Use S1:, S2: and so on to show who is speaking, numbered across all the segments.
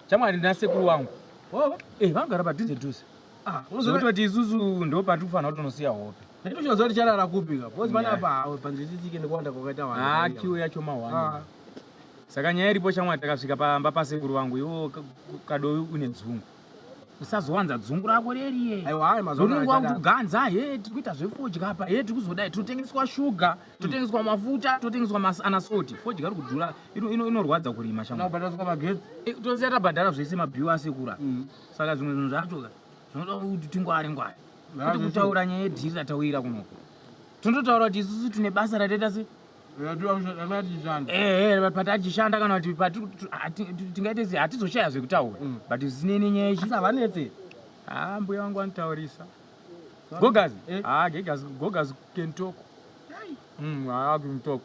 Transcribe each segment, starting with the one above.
S1: Chamwari nasekuru wangu oh, eh, vangara padhuze dhuze ah, unozokuti vati isusu ndo pati kufanira kuti unosiya hope nditochivaziva kuti charara
S2: kupika bcause pane apa hawe panzvitsitsike nekuwanda kwakaita wakiwo ah, yacho mahwani
S1: ah. saka nyaya iripo chamwari takasvika pamba pasekuru vangu iwo kadovi une dzungu usazowanza dzungu rako reriye unenge
S2: wakuganza he
S1: tiri kuita zvefodya apa he tiri kuzodai tinotengeswa shuga totengeswa mafuta totengeswa maanasoti fodya ari kudhura inorwadza kurima chamotoziva
S2: eh, tabhadhara
S1: zvese mabhiwa asekura mm. saka zvimwe zvinhu zvacho zvinoda kuti tingwari ngwari kuti kutaura nyaya yedhiri ratawira kunoko tinototaura kuti isusu tine basa rataita se patachishanda eh, eh, kana kuti tingaite se hatizoshaya zvekutaura mm. but zvinene nyaya ichi havanetse
S2: haa ah, mbuya
S1: vangu vanotaurisa Gogazi. Eh? Ah, Gogazi, Gogazi can talk. Mm, ah, can talk.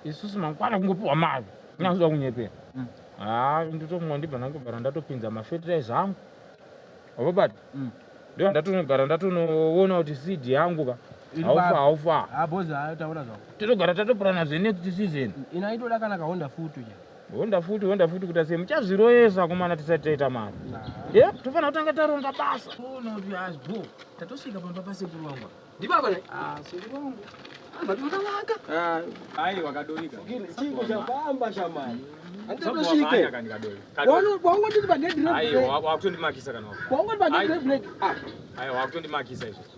S1: Isusu mangwana kungopiwa mari. Nyanzwa kunyepera. Mm. Ah, ndotomwa ndibva nangu bara ndatopinza ma fertilizer angu. Avo bati. Mm. Ndio ndatonogara ndatonoona kuti seed yangu ba. Haufa haufa. Ah, boza taona zvawo. Totogara tatopurana zve next season. Inaitoda kana ka Honda
S2: futu ya. honda futi honda
S1: futi kuita sei muchazviroyesa kumana tisati taita mari ye tofanira kutanga taronga basa ona kuti asbo tatosvika pamba pasekuru wangu ndibaba
S2: ah,
S1: sekuru
S2: wangu wakundimakisa
S1: kana wakundimakisa izvo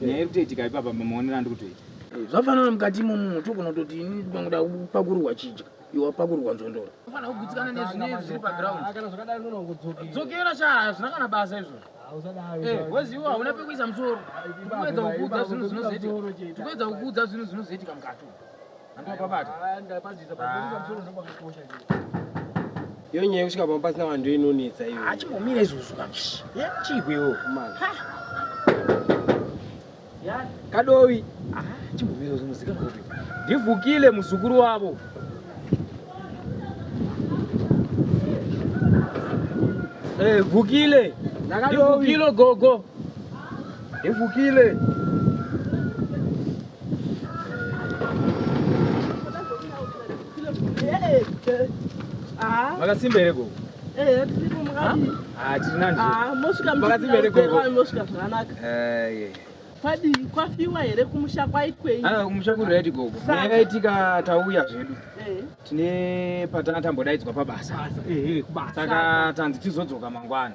S1: nyaya iri kutoitika ipapa maonero andiri kutoita eh, zvafanana mukati
S3: imomo tokonototi ini ndikangoda kupakurwa chidya iwa pakurwa nzondora ufanira kugutsikana nezvinei zviri paground ah, kana zvakadai
S2: nonongodzokera sha
S3: hazvina kana basa izvozvo eh, weziwo hauna pekuisa musoro tikuedza kukuudza zvinhu zvinozoitika tikuedza kukuudza zvinhu zvinozoitika mukati
S2: iyo nyaya yekusvika pamba pasina vanhu ndo inonetsa iyo achimbomira izvozvo
S3: chiigwewo
S2: kadovi
S3: chimbomira izvozvo muzika kuti ndivhukile
S1: muzukuru wavo eh, vhukile ndivhukile gogo ndivhukile makasimba here gogo makasimba
S4: here gogo kwadii kwafiwa here kumusha kwaikwei ah, kumusha kuri right gogo
S1: yakaitika tauya zvedu eh. tine patanga tambodaidzwa pabasa eh, eh, saka
S4: tanzi
S1: tizodzoka mangwana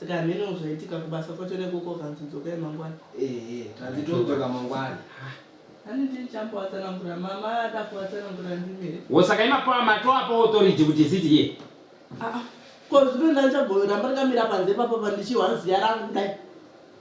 S4: saka hameno zvaitika kubasa kwacho nekuko kanzi dzokai mangwana ehe tanzi todzoka
S2: mangwana ani
S4: ndichamboatsanangura mama ada kuatsanangura ndimere
S1: wosaka imapo amato apo authority kuti isiti ye Ah, ah.
S4: ko zvino ndandichabhoyora mbakamira panze papo pandichiwa ziya rangu kudai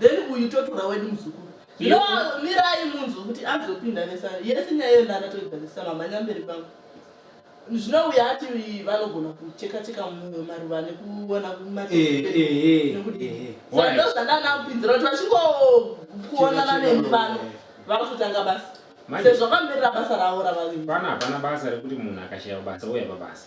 S4: then uyu totora wedu muzukuru zvino mirai munzwe kuti azopinda nesana yese nyaya iyo ndaakatoigadzisa mamhanya mberi pangu zvino uya ati vanogona kucheka cheka mumwe maruva nekuona kumatindosandanakupinzira kuti vachingokuonana nemubano vakutanga basa sezvakamirira basa ravo ravaviri pana hapana basa rekuti
S1: munhu akashaya basa uya pabasa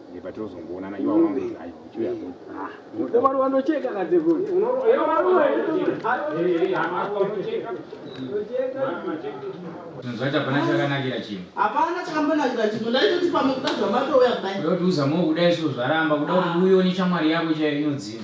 S1: hapana chakambonakira chinhu
S4: ndaitoti pamwe kuda zvamatouya kudai kuda kuti uzamwe kuda isu
S1: zvaramba kuda kuti uione chamwari yako chaiyo inodzima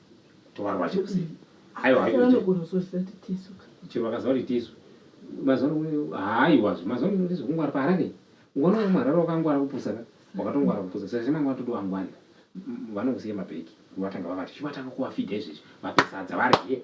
S1: tovarwa chekusi aiwa chero vakaziva kuti tisu mazuva haiwa mazuva ano ndizvo kungwara paharare ngona umwe harare wakangwara kupusa ka wakatongwara kupusa saka chimanga watodo wangwani vanokusiya mabheki vatanga vavati chivatanga kuvafidha izvezvi vapesadza varye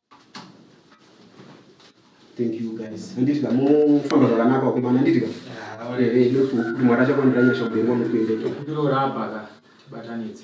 S2: Thank you guys. Handiti ka mofamba zvakanaka wakomana handiti ka. Ah, Ehe ndofu kuti mwari achakuwanira nyasha ubereki wamukwende. Ndokupiro rapa ka
S3: tibatanidze.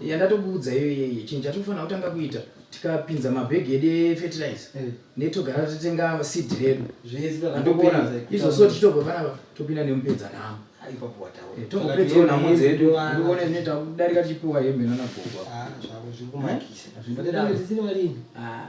S3: Yeah, ndatokuudza iyo iyoyo chinhu chatinofanira kutanga kuita tikapinza mabhegi edu efetirize eh. netogara totenga seed redu zveandokuona izvo so tichitobva panapa topinda nemupedza nhamo eh,
S2: tongopedzawo nhamo dzedu
S3: ndione zvinee takudarika tichipiwa hembe nanagogo ah,
S2: ah,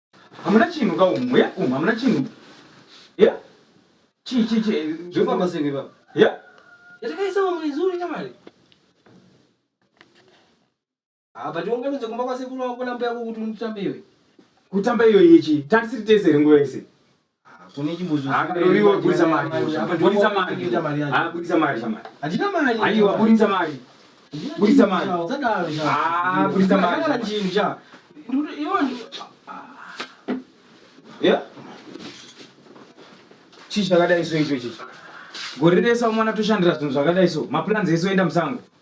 S1: hamuna chinhu ka umu ya umu hamuna chinhu ya chii chii chii zvofamba
S2: sei ipapa ya
S1: yatakaisa vamwe
S2: izuru nyamari ah but unganonze kumba kwasekuru wako nambuya yako kuti unotamba iwe kutamba
S1: iyoyi chii tatisiri tese here nguva yese chii chakadai so icho ichi gore rese mwana toshandira zvinhu zvakadai so maplans ese oenda musango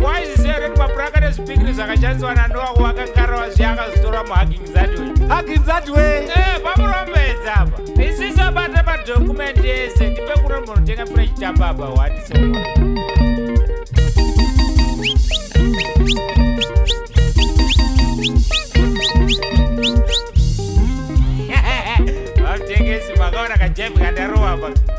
S5: Why is there any mapuraka nezvipikiri zvakashandiswa nanoa kuvakangarava zviya akazotora muhugging that way? Hugging that way? Eh, pamurombedza apa. Isisi abata madocument ese, ndipe kuno munotenga fresh chapa apa, what is Vatengesi makaona kajepi kandarowa apa.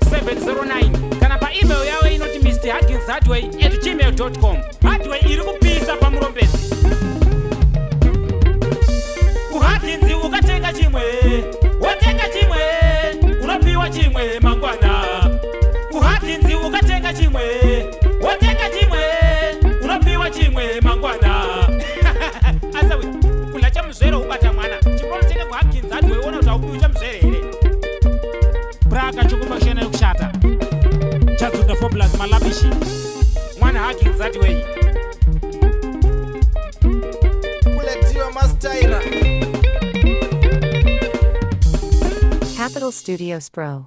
S5: 709 kana paemail yavo inoti mr hagins hardway at gmail com hardway iri kupisa pamurombedzi kuhaginzi ukatenga chimwe wotenga chimwe unopiwa chimwe mangwana kuhaginzi ukatenga chimwe wotenga chimwe unopiwa chimwe mangwana asawe kula chamuzvere ubata mwana chimbonotenga kuhaginzi hardway ona kuti haupiwi chamuzvere here Braga chokupa kushena yokushata. Chadzo the formulas malabishi. Mwana haki nzati wenyu.
S6: Kuletiwa mastaira.
S7: Capital Studios Pro.